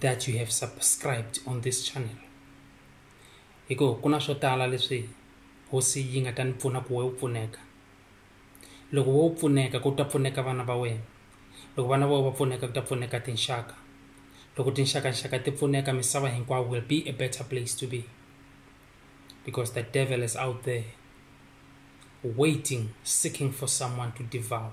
that you have subscribed on this channel hi ku ku na swo tala leswi hosi yi nga ta ni pfuna ku we u pfuneka loko wo pfuneka ku ta pfuneka vana va wena loko vana va va pfuneka ku ta pfuneka tinxaka loko tinxakanxaka ti pfuneka misava hinkwawo will be a better place to be because the devil is out there waiting seeking for someone to devour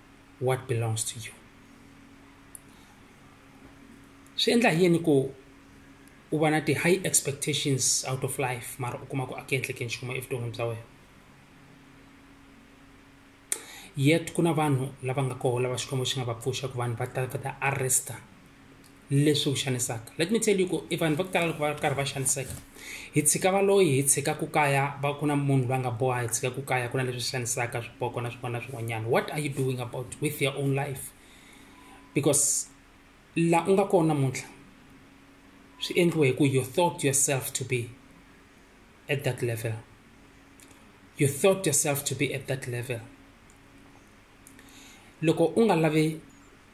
what belongs to you swi endla hi yini ku u va na ti-high expectations out of life mara u kuma ku a ku endleke nchumu evuton'wini bya wena yet ku na vanhu lava nga koho lava xikwembu xi nga va pfuxa ku vanhu va ta va ta arrester leswi ku xanisaka let me tell you ku i vanhu va ku tala loko va ri karhi va xaniseka hi tshika valoyi hi tshika ku kaya va ku na munhu loyi a nga boha hi tshika ku kaya ku na leswi xanisaka swipoko na swin'wana na swin'wanyana what are you doing about with your own life because la u nga kona namuntlha swi endliwe hi ku you thought yourself to be at that level you thought yourself to be at that level loko u nga lavi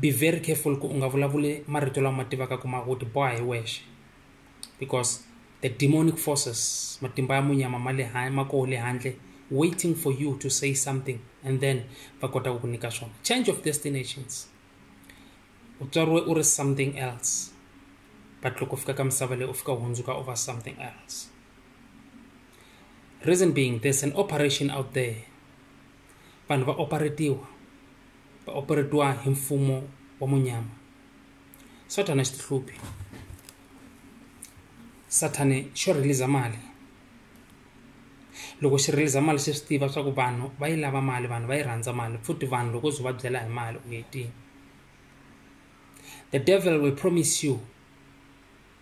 be very careful ku u nga vulavuli marito lama tivaka ku ma u tiboha hi wexe because the demonic forces matimba ya munyama ma le ma koho le handle waiting for you to say something and then va kota ku ku nyika swona change of destinations u tswariwe u ri something else but loko fika ka misava leyi u fika u hundzuka u va something else reason being there's an operation out there Vanhu va operetiwa, va operetiwa hi mfumo wa munyama. Sathana xi tihluphi. Sathana xo release mali. Loko xi release mali xi swi tiva swa ku vanhu va yi lava mali vanhu va yi rhandza mali futhi vanhu loko byi va byela hi mali u hetile. The devil will promise you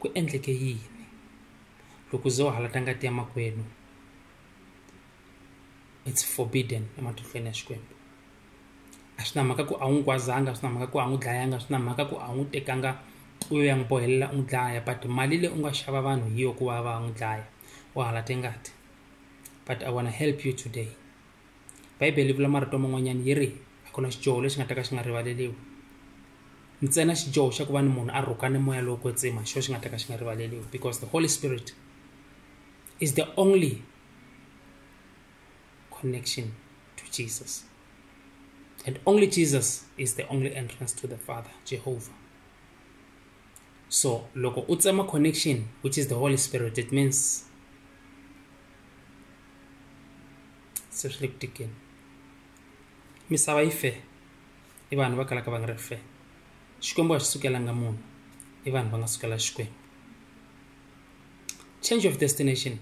Ku endleke yini? Loko u ze u halata ngati ya makwenu it's forbidden ematinhlweni ya Xikwembu. A swi na mhaka ku a wu n'wi kwazanga, a swi na mhaka ku a n'wi dlayanga, a swi na mhaka ku a n'wi tekanga u ya n'wi bohelela u n'wi dlaya but mali leyi u nga xava vanhu hi yo ku va va n'wi dlaya u halate ngati but I wanna help you today. bibele yi vula marito man'wanyana yi ri a ku na xidyoho lexi nga ta ka xi nga rivaleriwi ntsena xidyoho xa ku va ni munhu a rhuka ni moya lowo kwetsima xo xi nga ta ka xi nga rivaleriwi because the holy spirit is the only connection to jesus and only jesus is the only entrance to the father jehovah so loko u tsema connection which is the holy spirit it means se re le kutekeng misava yi fe i vanhu va kalaka va nga ri fe xikwembu a xi sukelanga munhu i vanhu va nga sukela xikwembu change of destination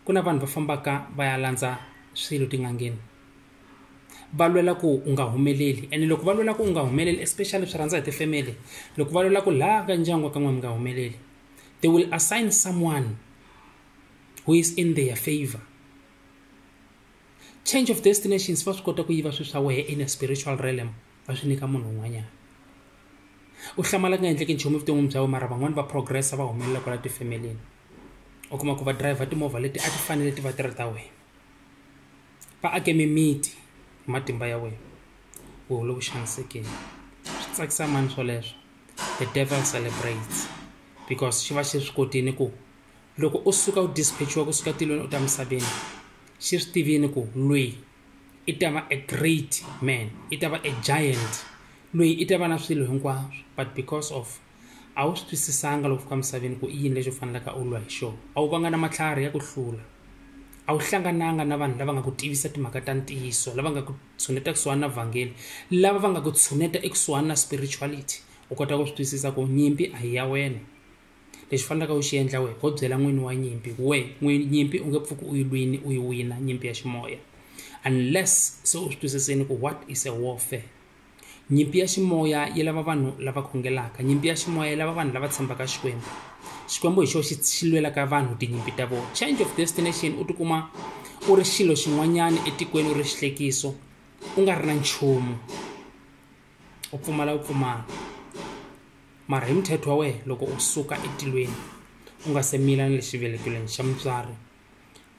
ku na vanhu va fambaka va ya landza swilo tin'angeni va lwela ku u nga humeleli ene loko va lwela ku u nga humeleli especially swi rhandza hi tifemeli loko va lwela ku laha ka ndyangu wa ka n'we mi nga humeleli they will assign someone who is in their favor change of destinations va swi kota ku yiva swi swa wehe in a spiritual realm va swi nyika munhu un'wanyana u hlamala ku nga endleki nchumu evuton'wini bya we mara van'wani va progressa va humelela kwala tifemelini u kuma ku va driver timovha leti a ti fanele ti va ti ri ta wena va ake mimiti hi matimba ya wena u hole ku xanisekeni swi tsakisa mani swoleswo the devil celebrates because xi va xi swi kotile ku loko u suka u dispechiwa kusuka tilweni u ta misaveni xi swi tivini ku loyi i ta va a great man i ta va a giant loyi i ta va na swilo hinkwaswo but because of a wu swi twisisanga loko fika misaveni ku i yini lexi u fanelaka u lwa hi xona a wu vanga na matlhari ya ku hlula a wu hlangananga na vanhu lava nga ku tivisa timhaka ta ntiyiso lava nga ku tshuneta kusuhani na vhangeli lava va nga ku tshuneta ekusuhani na spirituality u kota ku swi twisisa ku nyimpi a hi ya wena lexi fanelaka u xi endla wehe ho byela n'wini wa nyimpi ku we n'wini nyimpi u nge pfuki u yi lwini u yi wina nyimpi ya ximoya unless se u swi twisisini ku what is a warfare nyimpi ya ximoya yi lava vanhu lava khongelaka nyimpi ya ximoya yi lava vanhu lava tshembaka xikwembu xikwembu hi xo xi xi lwelaka vanhu tinyimpi ta vona change of destination u tikuma u ri xilo xin'wanyana etikweni u ri xihlekiso u nga ri na nchumu u pfumala u pfumala mara hi muthetho wa wena loko u suka etilweni u nga se mila na le xivelekelweni xa mutswari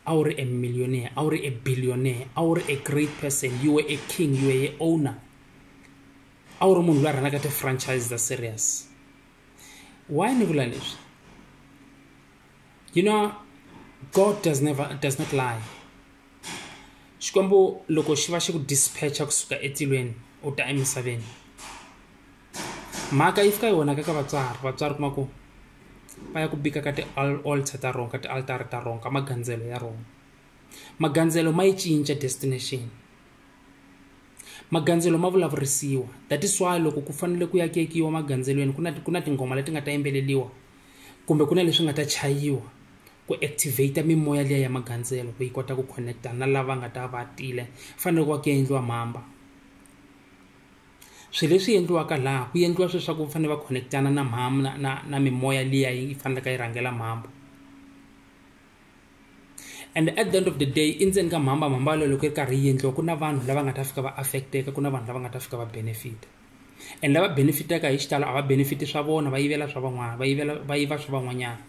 a wu ri e millionaire a wu ri e billionaire a wu ri e great person you were a king you were a owner a wu ri munhu loyi a rhanaka ti-franchise ta serious why ni vula leswi you know god does never does not lie xikwembu loko xi va xi ku dispatcha kusuka etilweni u ta emisaveni mhaka yi fika yi vonaka ka vatswari vatswari kuma ku va ya ku bika ka ti-altar ta rona ka ti-altara ta rona ka magandzelo ya rona magandzelo ma yi cinca destination magandzelo ma vulavurisiwa that is why loko ku fanele ku yakekiwa magandzelweni ku na ku na tinghoma leti nga ta yimbeleliwa kumbe ku na leswi nga ta chayiwa ku activate mimoya liya ya magandzelo ku yi kota ku connecta na lava nga ta va tile fanele ku va ku ya endliwa mhamba swilo leswi endliwaka laha ku endliwa swilo swa ku fanele va connectana na mhamba na, na, na mimoya liya yi faneleka yi rhangela mhamba and at the end of the day i ndzeni ka mhamba mhamba yaleyo loko yi ri karhi yi endliwa ku na vanhu lava nga ta fika va affecteka ku na vanhu lava nga ta fika va benefita and lava benefitaka hi xitalo a va benefiti swa vona va yivela swa van'wana va yivela va yiva swa van'wanyana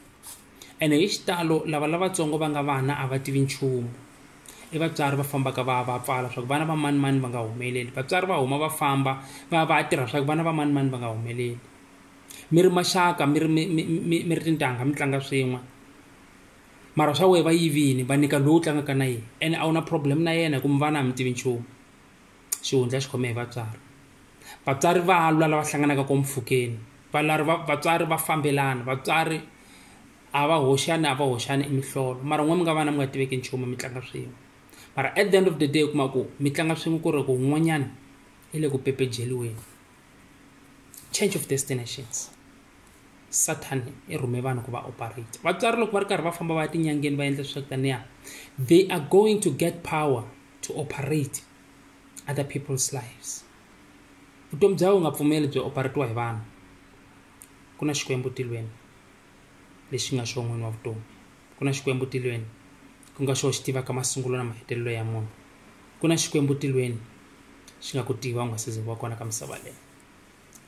ene hi xitalo lava lavatsongo va nga vana a va tivi nchumu i vatswari va fambaka va va pfala swa ku vana va mani mani va nga humeleli vatswari va huma va famba va va tirha swa ku vana va mani mani va nga humeleli mi ri maxaka mi ri mi ri tintangha mi tlanga swin'we mara swa wehe va yivini va nyika lowu tlangaka na yena ene a wu na problem na yena hi ku muvana a mi tivi nchumu xihundla xi khome hi vatswari vatswari va lwa lava hlanganaka ko mpfhukeni valari vatswari va fambelana vatswari a va hoxani a va hoxani imihlolo mara n'we mi nga vana mi nga tiveki nchumu mi tlanga swin'we mara at the end of the day u kuma ku mi tlanga swin'we ku ri ku un'wanyana i le ku pepejeliweni change of destinations satan i rhume vanhu ku va operate vatswari loko va ri karhi va famba va ya tinyangeni va endla swa taniya they are going to get power to operate other people's lives vutomi bya u nga pfumeli byi operatiwa hi vanhu ku na xikwembu tilweni lexi nga xo n'wini wa vutomi ku na xikwembu tilweni ku nga xo xi tivaka masungulo na mahetelelo ya munhu ku na xikwembu tilweni xi nga ku tiva u nga se ze wa kona ka misava leyi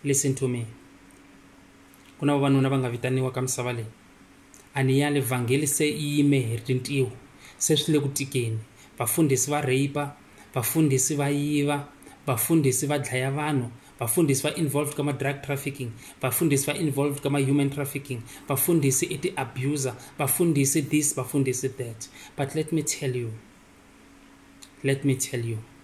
listen to me ku na vavanuna va nga vitaniwa ka misava leyi a ni yali vhangeli se yi yime hi rintiho se swi le ku tikeni vafundhisi va rape vafundhisi va yiva vafundhisi va dlaya vanhu vafundhisi va involved ka ma-drug trafficking vafundhisi va involved ka ma-human trafficking vafundhisi i ti-abuser vafundhisi this vafundhisi that but let me tell you let me tell you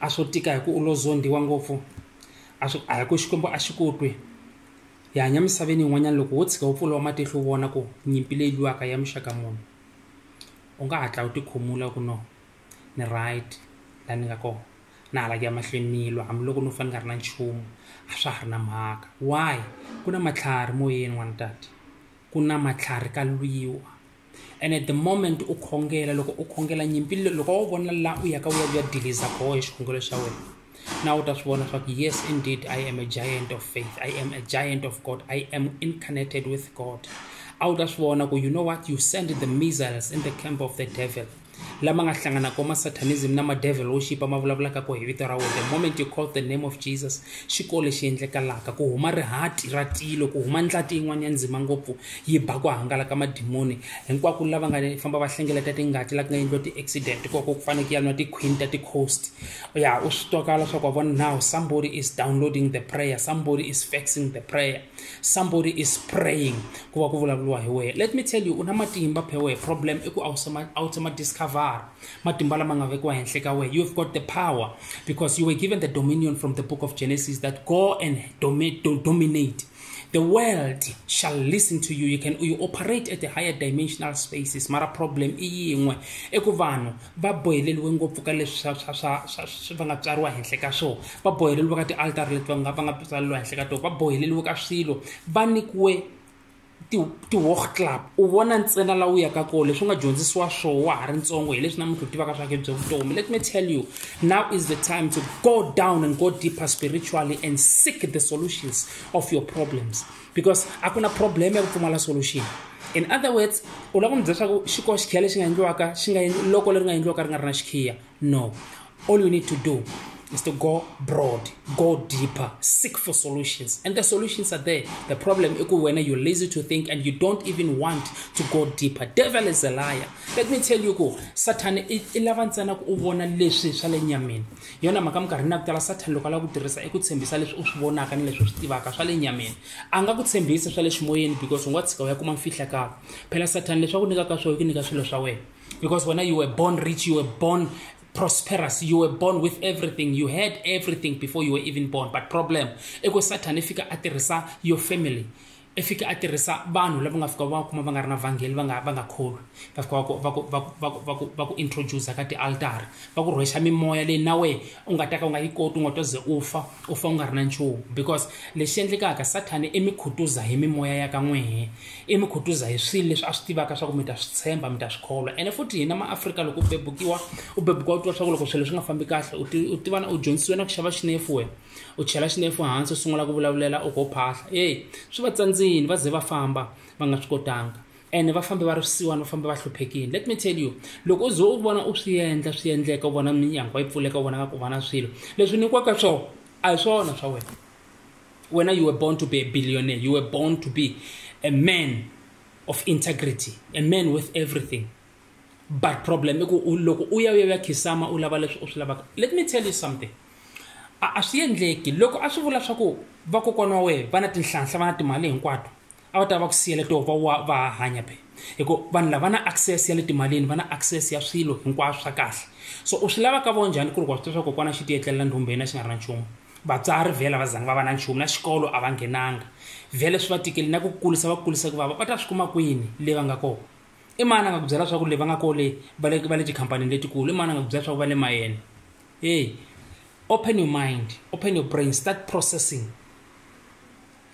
a swo tika hi ku u lo zondhiwa ngopfu a swi a hi ku xikwembu a xi ku twi hi hanya misaveni yin'wanyana loko wo tshika wu pfuriwa matihlo u vona ku nyimpi leyi lwiwaka ya muxaka munhu u nga hatla u tikhumula ku no ni right laha ni nga kona na hala ku ya mahlweni ni lwa hambiloko no fane nga ri na nchumu a swa ha ri na mhaka why ku na matlhari moyeni n'wana tata ku na matlhari ka lwiwa ene the moment u khongela loko u khongela nyimpi loko wo vona la u yaka u ya ku ya diliza koho hi xikhongelo xa wena na u ta swi vona swa ku yes indeed i am a giant of faith i am a giant of god i am incarnated with god a wu ta swi vona ku you know what you send the missiles in the camp of the devil lama nga hlanganaka ma satanism na ma devil worship ma vulavulaka ko hi vito ra wena the moment you call the name of jesus xi ko lexi endlekalaka ku huma rihati ra tilo ku huma ndlati yin'wana ya ndzima ngopfu yi ba ku hangalaka madimoni hinkwako lava nga famba va hlengeleta tingati la ku nga endliwa ti-accident koko ku faneke ya nwa ti-queen ta ti-coast ya u swi twakala swa ku wa vona now somebody is downloading the prayer somebody is faxing the prayer somebody is praying ku va ku vulavuriwa hi wehe let me tell you u na matimba phe wehe problem i ku a wu se ma discover matimba lama nga vekiwa henhla ka wehe you have got the power because you were given the dominion from the book of genesis that go and domi do dominate the world shall listen to you you can you operate at the higher dimensional spaces mara problem i yin'we i ku vanhu va boheleriwe ngopfu ka leswi swa swa swa swa swi va nga tswariwa henhla ka swona va boheleriwe ka tialtari leti va nga va nga tswaleriwa henhla ka tona va boheleriwe ka swilo va nyikiwe ti-walk club u vona ntsena laha u yaka kona leswi u nga dyondzisiwa swona wa ha ri ntsongo hi leswi namuntlha u tivaka swa ke bya vutomi let me tell you now is the time to go down and go deeper spiritually and seek the solutions of your problems because a ku na problem ya ku pfumala solution in other words u lava ku mi byela swa ku xiko xikhiya lexi nga endliwaka xi nga loko leri nga endliwaka ri nga ri na xikhiya no all you need to do is to go broad go deeper seek for solutions and the solutions are there the problem i ku wena you're lazy to think and you don't even want to go deeper devil is a liar let me tell you ku satan i lava ntsena ku u vona leswi swa le nyameni hi yona mhaka minkarhini ya ku tala sathani loko a lava ku tirhisa i ku tshembisa leswi u swi vonaka ni leswi u swi tivaka swa le nyameni a nga ku tshembisa swa le ximoyeni because u nga tshika u ya kuma mfihlakalo phela sathani leswi a ku nyikaka swona ku nyika swilo swa wena because wena you were born rich you were born prosperous you were born with everything you had everything before you were even born but problem i ku sathani i fika a tirhisa your family i fike a tirhisa vanhu lava nga fika va kuma va nga ri na vhangeli va nga va nga kholwi va fika va ku va ku va ku va ku va ku va ku introduce ka tialtara va ku rhwexa mimoya leyi na wehe u nga ta ka u nga yi koti u nga to ze u fa u fa u nga ri na nchumu because lexi endlekaka sathani i mi khutuza hi mimoya ya ka n'wehe i mi khutuza hi swilo leswi a swi tivaka swa ku mi ta swi tshemba mi ta swi kholwa ene futhi hina maafrika loko u bebukiwa u bebukiwa u tiva swa ku loko swilo swi nga fambi kahle u ti- u tivana u dyondzisiwe na ku xava xinefu wena u chela xinefu hansi u sungula ku vulavulela u go phahla eyi swi va tsandzini va ze va famba va nga swi kotanga ene va fambe va ri swisiwani va fambe va hluphekile let me tell you loko u ze u vona u swi endla swi endleka u vona minyangwa yi pfuleka u vona nga ku vana swilo leswi nyikiwaka swona a hi swona swa wena wena you were born to be a billionaire you were born to be a man of integrity a man with everything but problem i ku loko u ya u ya ya khisama u lava leswi u swi lavaka let me tell you something a a swi endleki loko a swi vula swa ku vakokwana wa wena va na tinhlanhla va na timali hinkwato a va ta va ku siyela to va wa va hanya phe hikuva vanhu lava na access ya le timalini va na access ya swilo hinkwaswo swa kahle so u swi lava ka vo njhani ku ri ku wa swi tiva swa kokwana xi tiyetlelela ndhumbe yena xi nga ri na nchumu vatswari vhela va zangi va va na nchumu na xikolo a va nghenanga vhele swi va tikeli na ku kurisa va kurisa ku vava va ta swi kuma kwini le va nga kona i mani a nga ku byela swa ku le va nga kole va le va le tikhampanini letikulu i mani a nga ku byela swa ku va le mayeni hey open your mind open your brain start processing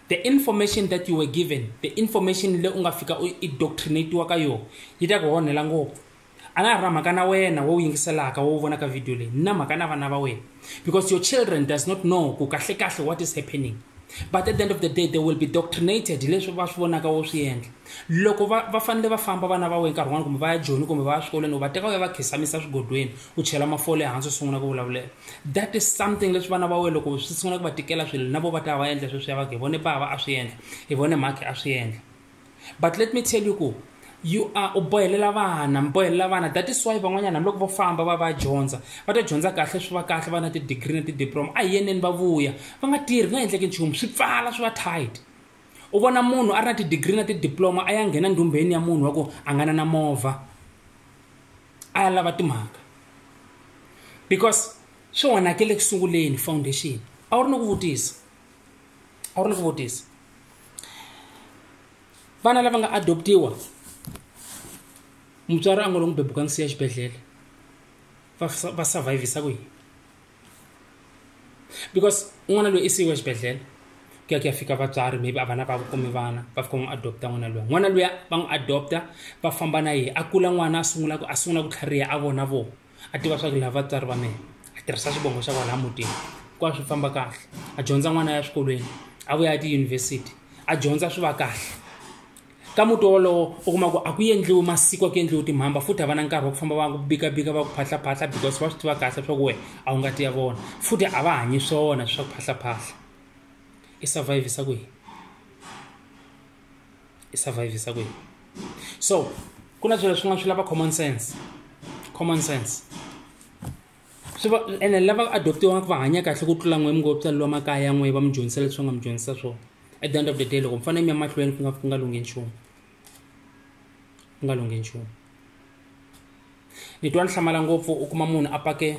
the information that you were given the information le u nga fika u indoctrinatiwa ka yona yi ta ku onhela ngopfu a na ha ri na mhaka na wena wo wu yingiselaka wo wu vonaka video leyi ni na mhaka na vana va wena because your children does not know ku kahle kahle what is happening but at the end of the day they will be doctrinated hi leswi va swi vonaka wo swi endla loko va va fanele va famba vana va wena nkarhi wun'wana kumbe va ya joni kumbe va ya swikolweni u va teka u ya va khisamisa swigodweni u chela mafole ehansi u sungula ku vulavulela that is something leswi vana va wena loko swi sungula ku va tikela swilo na vo va ta va endla sweswi ya va hi vone bava a swi endla hi vone mhakhi a swi endla but let me tell you ku you are u bohelela vana mi bohelela vana that is why van'wanyana hambiloko vo famba va va dyondza va ta dyondza kahle swi va kahle va na ti-degree na ti-diploma a hi yeneni va vuya va nga tirhi nga endleki nchumu swi pfala swi va tight u vona munhu a ri na ti-degree na ti-diploma a ya nghena ndhumbeni ya munhu wa ku a nga na na movha a ya lava timhaka because swi onhakele eku sunguleni foundation a wu ri ni ku vutisa a wu ni swivutisi vana lava nga adoptiwa mutswari a ngo lo n'wi bebuka n'wi siya xibedhlele va sa- va survivisa ku yini because n'wana loyi i siyiwe xibedhlele ku ya ku ya fika vatswari maybe a vana va kumi vana va fika va n'wi adopta n'wana luya n'wana luya va n'wi adopta va famba na yehe a kula n'wana a sungula ku a sungula ku tlhariha a vona vona a tiva swa ku lava vatswari va mina a tirhisa xivongo xa kwalaha mutini ku a swi famba kahle a dyondza n'wana ya swikolweni a vuya ya tiyunivhesiti a dyondza swi va kahle ka muti wolowo u kuma ku a ku endliwi masiku a ku endliwi timhamba futhi a va na nkarhi wa ku famba va ku bikabika va ku phahlaphahla because va swi tiva kahle swa ku wena a wu nga ti ya vona futhi a va hanyi swona swa ku phahlaphahla i survivisa kwihi i survivisa kwihi so ku na swilo swin'wana swi lava common sense common sense swi va ene lava adoptiwaka va hanya kahle ku tlula n'we mi ngo tswaleliwa makaya ya n'we va mi dyondzisa leswi va nga mi dyondzisa swona at the end of the day loko mi fanele mi ya mahlweni ku nga ku nga lunghi nchumu ku nga lunghi nchumu ni twa ni hlamala ngopfu u kuma munhu a pake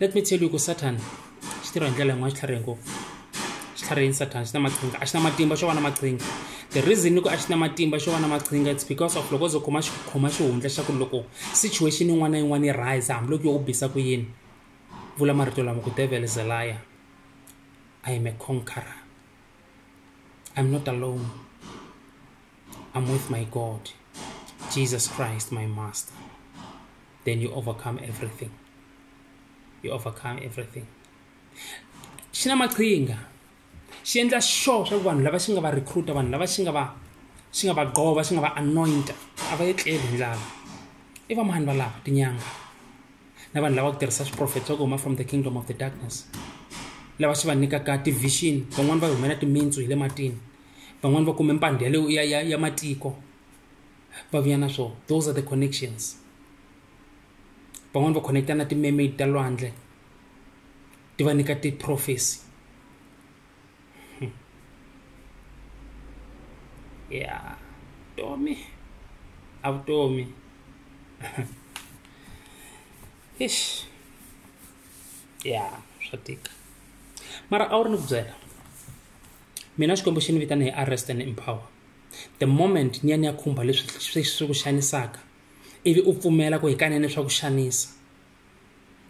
let me tell you ku satan xi tirha hi ndlela yin'wana xi tlharihe ngopfu xi tlharihini satan xi na maqhinga a xi na matimba xo va na maqhinga the reason ni ku a xi na matimba xo va na maqhinga it's because of loko zo khoma khoma xihundla xa ku loko situation yin'wana na yin'wana yi rise hambiloko yo u bisa ku yini vula marito lama ku devil is a liar i am a conqueror i'm not alone I'm with my God, Jesus Christ, my Master, then you overcome everything. You overcome everything. xi na maqhinga xi endla sure swa ku vanhu lava xi nga va recruiter vanhu lava xi nga va xi nga va gova xi nga va anointa a va etleli hi ndlala i va mani valava tinyanga na vanhu lava ku tirhisa swiprofet swa ku huma from the kingdom of the darkness lava xi va nyikaka ti-vision van'wani va humela timitsu hi le matini van'wani va kume mpandhi ya, ya, ya, ya matiko va vuya na swona those are the connections van'wani va connecta na ti-mermaid ta lwandle ti va nyika ti-prophecy hmm. ya tomi a vutomi ish ya swa tika mara a wu ri ni ku byela mina xikwembu xi ni vitana hi arrest and empower the moment ni ya ni ya khumba leswi swi swi ku xanisaka ivi u pfumela ku hikanene swa ku xanisa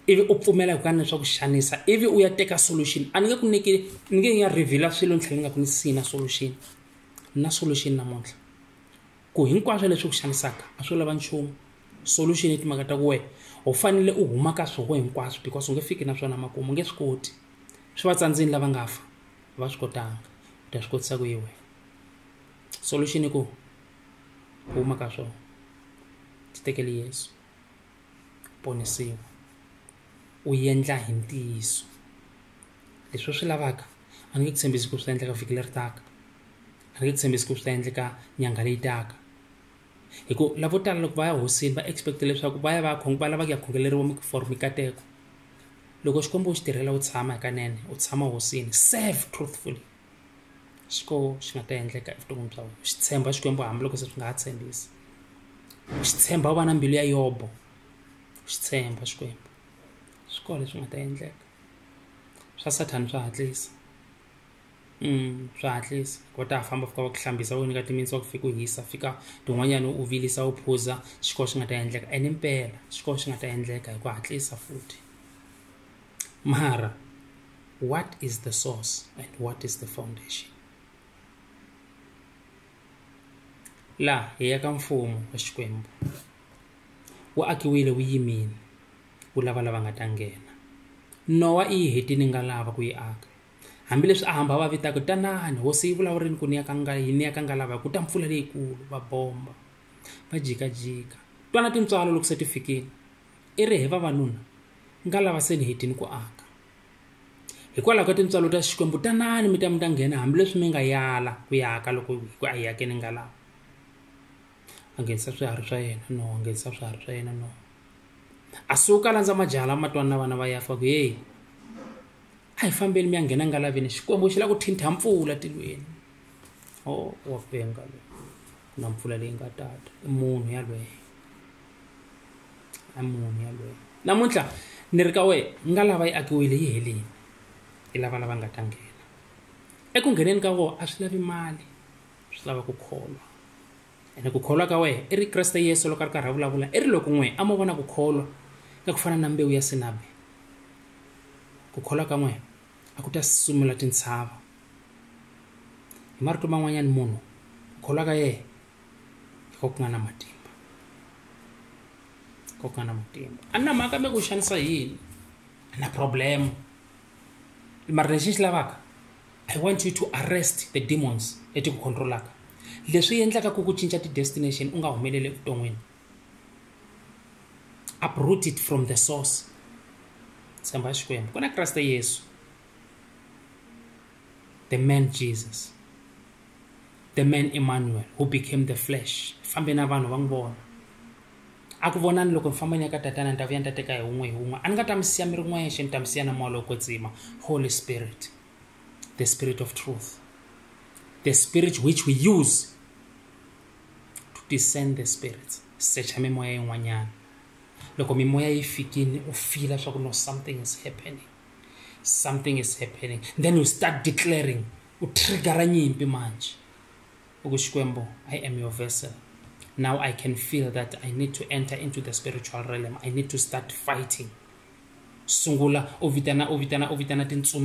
ivi u pfumela hikanene swa ku xanisa ivi u ya teka solution a ni nge ku nyiki ni nge ya reveala swilo ni tlhela ni nga ku ni sina solution na solution namuntlha ku hinkwaswo leswi ku xanisaka a swi lava nchumu solution i timhaka ta ku wena u fanele u huma ka swoko hinkwaswo because u nge fiki na swona makumu u nge swi koti swi va tsandzini lava nga fa va swi kotanga u ta swi kotisa ku yi wena solution i ku huma ka swona ti tekele yesu ponisiwa u endla hi ntiyiso leswi u swi lavaka a nge ku tshembisi ku swi ta endleka vhiki leri taka a nge ku tshembisi ku swi ta endleka nyangha leyi taka hi ku lavo tala loko va ya hosini va expect leswaku va ya va ya va lava ku ya khongeleriwa for mikateko loko xikwembu u xi tirhela u tshama hikanene u tshama hosini serve truthfully xiko xi nga ta endleka evuton'wini bya wena xi tshemba xikwembu hambiloko se swi nga ha tshembisi xi tshemba u va na mbilu ya yobo xi tshemba xikwembu swi kona leswi nga ta endleka swa sathana swa hatlisa Mm, swa hatlisa ko ta famba fika va ku hlambisa u nyika timinsi wa ku fika u hisa fika tin'wanyana u vilisa u phuza swi ko swi nga ta endleka ene mpela swi ko swi nga ta endleka hi ku hatlisa futhi mara what is the source and what is the foundation laha hi ya ka mfumo wa xikwembu wu akiwile wu yimile ku lava lava nga ta nghena nowa i yi hetini nga lava ku yi aka hambileswi a hamba va vitaka tanani hosi yi vulavurini ku ni ya ka nga yi ni ya ka nga lava ku ta mpfula leyikulu va bomba va jikajika twana tintswalo loko se ti fikile i ri he vavanuna nga lava se ni hetini ku aka hikwalaho ka tintswalo ta xikwembu tanani mi ta mi ta nghena hambileswi mi nga yala ku yaka loko ku a yi yakeni nga lava a nghenisa swiharhi swa yena no a nghenisa swiharhi swa yena no a suka a landza majaha lama twani na vana va yafa ku yeyi a hi fambeli mi ya nghena ngalaveni xikwembu xi la ku thintha mpfula tilweni o oh, wa penga loyi ku na mpfula leyi nga tata i munhu yalweyo i munhu yalweyo namuntlha ni ri ka wena nga lava yi akiwile yi helini i lava lava nga ta nghena eku ngheneni ka wona a swi lavi mali swi lava ku kholwa ene ku kholwa ka wehe i ri kreste yesu loko a ri karhi a vulavula i ri loko n'we a mo vona ku kholwa ka ku fana na mbewu ya sinabe ku kholwa ka n'we a ku ta sumula tintshava hi marito man'wanyana munhu ku kholwa ka yehe hi ko ku nga na matimba ko ku nga na matimba a ni na mhaka mi ku xanisa yini a na problema mara lexi ni xi lavaka i want you to arrest the demons leti ku controlaka leswi endlaka ku ku cinca ti-destination u nga humeleli evuton'wini uproot it from the source tshemba xikwembu ku na kreste yesu the man jesus the man emmanuel who became the flesh fambe na vanhu va n'wi vona a ku vonani loko ni famba ni ya ka tatana ni ta vuya ni ta teka hi wun'we hi wun'we a ni nga ta mi siya mi ri n'wexe ni ta mi siya na moya lowo kwetsima holy spirit the Spirit of truth, the Spirit which we use to discern the spirits. Secha mimoya yin'wanyana. Loko mimoya yi fikini u fila swa ku no something is happening. Something is happening. Then you start declaring u triggera nyimpi manje. Uku Xikwembu, I am your vessel. Now I can feel that I need to enter into the spiritual realm. I need to start fighting. Sungula u vitana u vitana u vitana tintsumi